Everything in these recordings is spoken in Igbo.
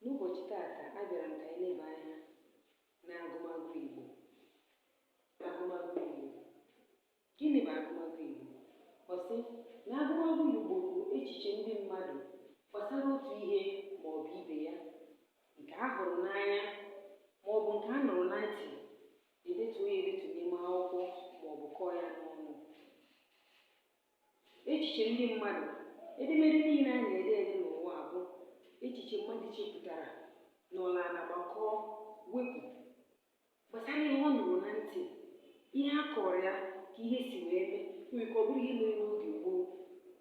N'ụbọchị taata, abịara m ka anyị leba anya n'agụmagụ Igbo. Agụmagụ Igbo. Gịnị bụ agụmagụ Igbo? Ọ sị na agụmagụ Igbo bụ echiche ndị mmadụ gbasara otu ihe ma ọ bụ ibe ya nke a hụrụ n'anya ma ọ bụ nke a nụrụ na ntị edetuo ya edetu n'ime akwụkwọ ma ọ bụ kọọ ya n'ọnụ. Echiche ndị mmadụ. Edemede niile a na-ede ede n'ụwa bụ echiche mmadụ chepụtara nọrọ ala gbakọọ wepụ gbasara ihe ọ nụrụ na ntị ihe a kọọrọ ya ka ihe si wee mee nwere ike ọ bụrụ ihe mere n'oge gboo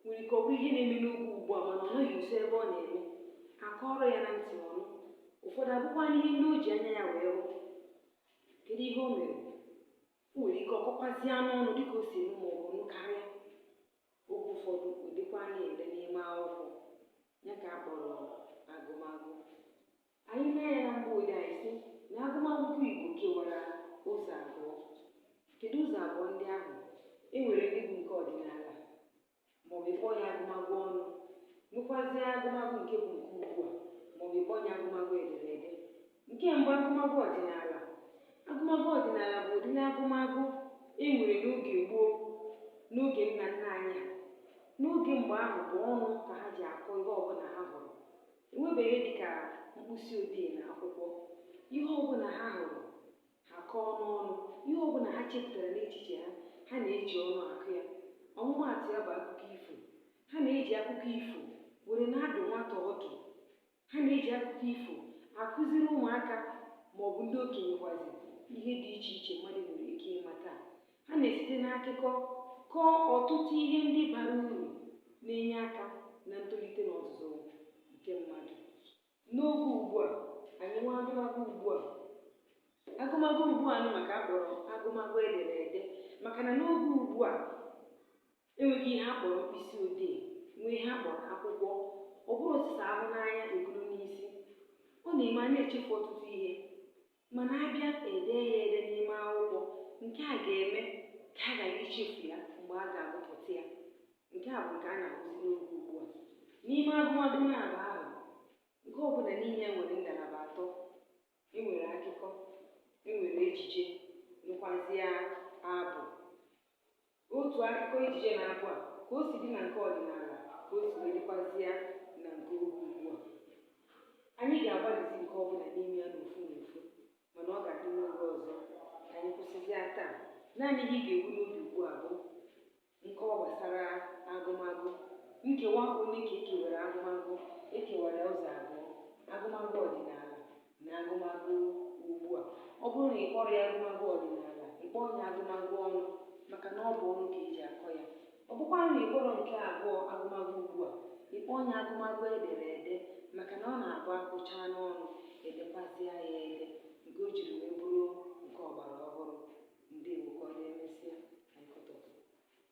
nwere ike ọ bụrụ ihe na-eme n'oge ugbu a mana ọ nọghị nso ebe ọ na-eme a kọọrọ ya na ntị ọ nụ ụfọdụ abụkwa ihe ndị o ji anya ya wee hụ kedu ihe o mere O nwere ike ọ kọkwazia n'ọnụ dịka o si eme ma ọ bụ nụ karịa. Oge ụfọdụ o dekwaa ya ede n'ime akwụkwọ ya ka a kpọrọ agụmagụ. Anyị mee ya na mgbe ode anyị sị na agụmagụ Igbo kewara ụzọ abụọ. Kedu ụzọ abụọ ndị ahụ? E nwere ndị bụ nke ọdịnala maọbụ ị kpọọ ya agụmagụ ọnụ, nwekwazie agụmagụ nke bụ nke ugbu a, maọbụ ị kpọọ ya agụmagụ ederede. Nke mbụ, agụmagụ ọdịnala. Agụmagụ ọdịnala bụ ụdịrị agụmagụ e nwere n'oge gboo, n'oge nna nna anyị ha. N'oge mgbe ahụ bụ ọnụ ka ha ji akọ ihe ọbụla ha hụrụ. E nwebeghị ihe dị ka mkpịsị odee na akwụkwọ. Ihe ọbụla ha hụrụ Ha kọọ n'ọnụ ihe ọ bụla ha chepụtara n'echiche ha. Ha na-eji ọnụ akọ ya. Ọmụmaatụ ya bụ akụkọ ifo. Ha na-eji akụkọ ifo were na-adụ nwata ọdụ. Ha na-eji akụkọ ifo akụziri ụmụaka ma ọ bụ ndị okenye kwazi ihe dị iche iche mmadụ nwere ike ịmata. Ha na-esite n'akụkọ kọọ ọtụtụ ihe ndị bara uru na-enye aka na ntolite na ọzụzụ nke mmadụ. N'oge ugbu a, anyị nwee agụmagụ ugbu a. Agụmagụ ugbu a nụnwa ka a kpọrọ agụmagụ ederede maka na n'oge ugbu a, e nwego ihe a kpọrọ mkpịsị odee, nwee ihe a kpọrọ akwụkwọ. Ọ bụrụ sọsọ a hụ n'anya e buru n'isi. Ọ na-eme anyị echefu ọtụtụ ihe. Mana a bịa e dee ya ede n'ime akwụkwọ, nke a ga-eme ka a ghara ichefu ya mgbe a ga-agụpụta ya. Nke a bụ nke a na-ahụzi n'oge ugbu a. N'ime agụmagụ naabọ ahụ, nke ọ bụla n'ime ya nwere ngalaba atọ. E nwere akụkọ, e nwere ejije, nwekwazịa abụ. Otu akụkọ ejije na abụ a ka o si dị na nke ọdịnala ka o si wee dịkwazịa na nke oge ugbu a. Anyị ga-agbalịzi nke ọ bụla n'ime ya n'ofu n'ofu, mana ọ ga-adị n'oge ọzọ. Anyị kwụsịzịa taa. Naanị ihe ị ga-ebu n'obi ugbu a bụ nkọwa gbasara agụmagụ. Nkewa ole ka e kewara agụmagụ? E kewara ya ụzọ abụọ, agụmagụ ọdịnala. na agụmagụ ugbu a. Ọ bụrụ na ị kpọrọ ya agụmagụ ọdịnala, ị kpọọ ya agụmagụ ọnụ maka na ọ bụ ọnụ ka e ji akọ ya. Ọ bụkwanụ na ị kpọrọ nke abụọ agụmagụ ugbu a, ị kpọọ ya agụmagụ ederede maka na ọ na-abụ a kọchaa n'ọnụ, e dekwazịa ya ede nke o jiri wee bụrụ nke ọgbara ọhụrụ. Ndewo, ka ọ dị emesịa.